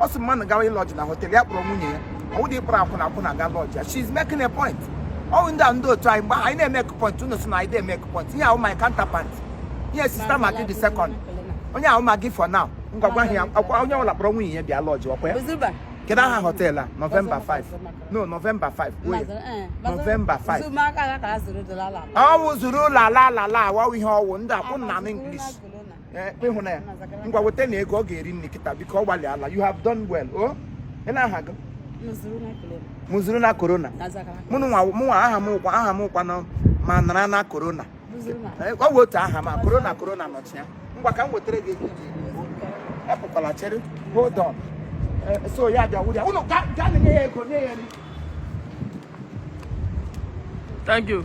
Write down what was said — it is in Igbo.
ọ sị mmadụ gawa ịlọji na họtel ya kpọrọ nwunye ya ọ wụ dị ị kpọrọ akwụna akwụna ga lọji ya she's making a point ọ wụ ndị a ndị otu anyị mgbe anyị na-eme point unu sị na anyị na-eme point ihe ahụ my counterpart ihe sista ma gị dị second onye ahụ ma gị for now ngwagwa ahụ ya ọ kwa onye ọbụla kpọrọ nwunye ya bịa lọji ọ kwa ya Buzuba. kedu aha họtel a nọvemba 5 no nọvemba 5 kwuo ya. Nọvemba 5. Buzuba aka ya ka a zụrụ dola ala. ọ wụ zuru ụlọ ala ala ala awawu ihe ọ wụ ndị akwụna m english eh, ịhụ na ya ngwa weta na ego ọ ga-eri nri kịta biko ị gbalịala you have done well o oh? ị na-aha gị mụzuru na korona mụnwa aha m wụkwa aha m wụkwa nọ ma nara na korona eh, ọ bụ otu aha ma korona korona nọchi ya ngwa ka m wetara gị ego iji epụkwala chere hold on eh, so ya bịa wụrụ ya ụnụ ga-enye ya ego nye ya nri Thank you.